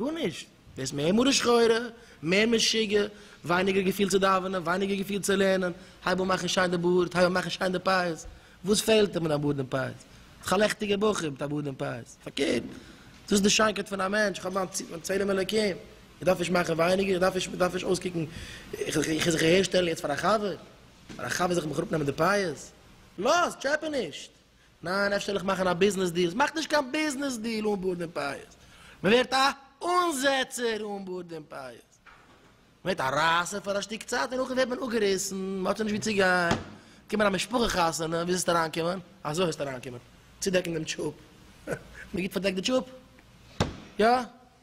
גארנישט, ווערסט מער מרה שחורה, מער משוגע, ווייניגער געפיל צו דאווענען, ווייניגער געפיל צו לערנען, הייב אן מאכן שיין די בארד, הייב אן מאכן שיין די פאות, וואס פעלט דיר מיט דיין בארד און פאות? איך א לעכטיגער בחור מיט א בארד און פאות, פארקערט, דאס איז די שיינקייט פון א מענטש, איך האב מיין ציל, מיין צלם אלוקים, איך דארף נישט מאכן ווייניגער, איך דארף נישט, איך דארף נישט אויסקוקן, איך זיך אהער שטעלן יעצט פאר א חבר, פאר א חבר זיך מיך אראפנעמען די פאות, לאז, טשעפע נישט! ניין אפשר זאל איך מאכן א ביזנעס דיעל, ס'מאכט נישט קיין ביזנעס דיעל אן בארד און פייעס, מ'ווערט א אנזעצער אן בארד און פייעס, מ'ווערט א רייסער פאר א שטיק צייט און נאכדעם ווערט מען אפגעריסן, מ'האט שוין נישט ווי צו גיין, קומען א משפחה חתונה, ווי זאלסטו אריינקומען? אזוי וועסטו אריינקומען, צודעקן דעם טשופ, מ'גיט פארדעקט די טשופ? יא?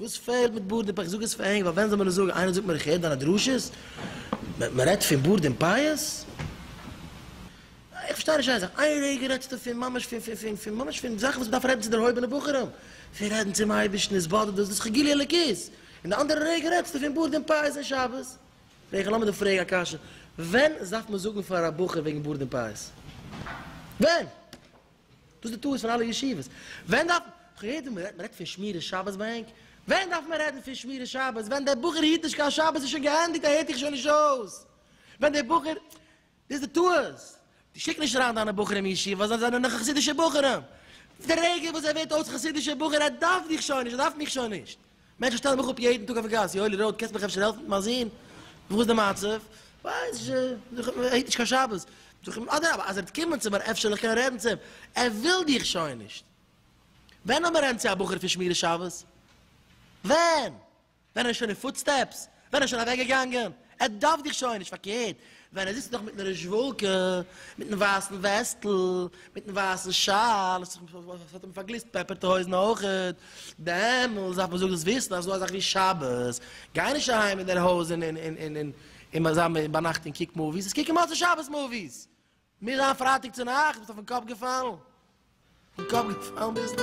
וואס פעלט מיט בארד און פאות? איך זאג עס פאר ענק ווייל ווען זאל מען עס זאגן? איינער זאגט מיר איך הער דיינע דרשות מען רעדט פון בארד און פאות? איך פארשטיי נישט איין זאך, איין רגע רעדסטו פון ממש פון פון פון פון ממש פון זאכן וואס מען דארף רעדן צו דערהויבענע בחורים, פון רעדן צום אייבערשטן, עס באדערט דאס, דאס איז כ'גיל יא אלוקית, און די אנדערע רגע רעדסטו פון בארד און פאות און שבת? פרעג איך, לאז מיר דיר פרעגן א קשיא, ווען זארף מען זאגן פאר א בחור וועגן בארד און פאות? ווען? דאס איז די טעות פון אלע ישיבות. ווען דארף מען? איך האב געהערט ווי מען רעדט פון שמירת שבת ביי ענק. ווען דארף מען רעדן פון שמירת שבת? ווען דער בחור היט נישט קיין שבת איז שוין געענדיגט ער הערט דיך שוין נישט אויס. ווען דער בחור, דאס איז די טעות. דו שיק נישט אריין דיינע בחורים אין ישיבה ווייל זיי זענען נאך חסידישע בחורים. די רגע וואס ער ווערט אויס חסידישע בחור ער דארף דיך שוין נישט ער דארף מיך שוין נישט. מענטשן שטעלן מיך אפ יעדן טאג אויפן גאס, יואלי ראוד, קענסט מיך אפשר העלפן מיט מיין זון? וואס איז די מצב? ווייס איך נישט, זאג איך, ער היט נישט קיין שבת. זאג איך, אדרבה, אז ער וועט קומען צו מיר אפשר וועל איך קענען רעדן צו אים, ער וויל דיך שוין נישט. ווען האט מען רעדן צו א בחור פון שמירת שבת? ווען? ווען ער איז שוין אין פוטסטעפס? ווען ער איז שוין אוועק געגאנגען, ער דארף דיך שוין נישט, פארקערט, ווען ער זיצט נאך מיטן רעזשוואלקע, מיטן ווייסן וועסטל, מיטן ווייסן שאל, עס האט אים פארגליסט פעפערטע הויזן אויכעט, דעמאלס דארף מען זאגן דאס וויסן אזא זאך ווי שבת, גיי נישט אהיים אין דער הויז און און און זיי ביינאכט און קוק מאוויס, עס קוקן מוצאי שבת מאוויס, מיר זיין פרייטאג צו נאכט, ביסט אויפן קאפ געפאלן? אויפן קאפ געפאלן ביסטו?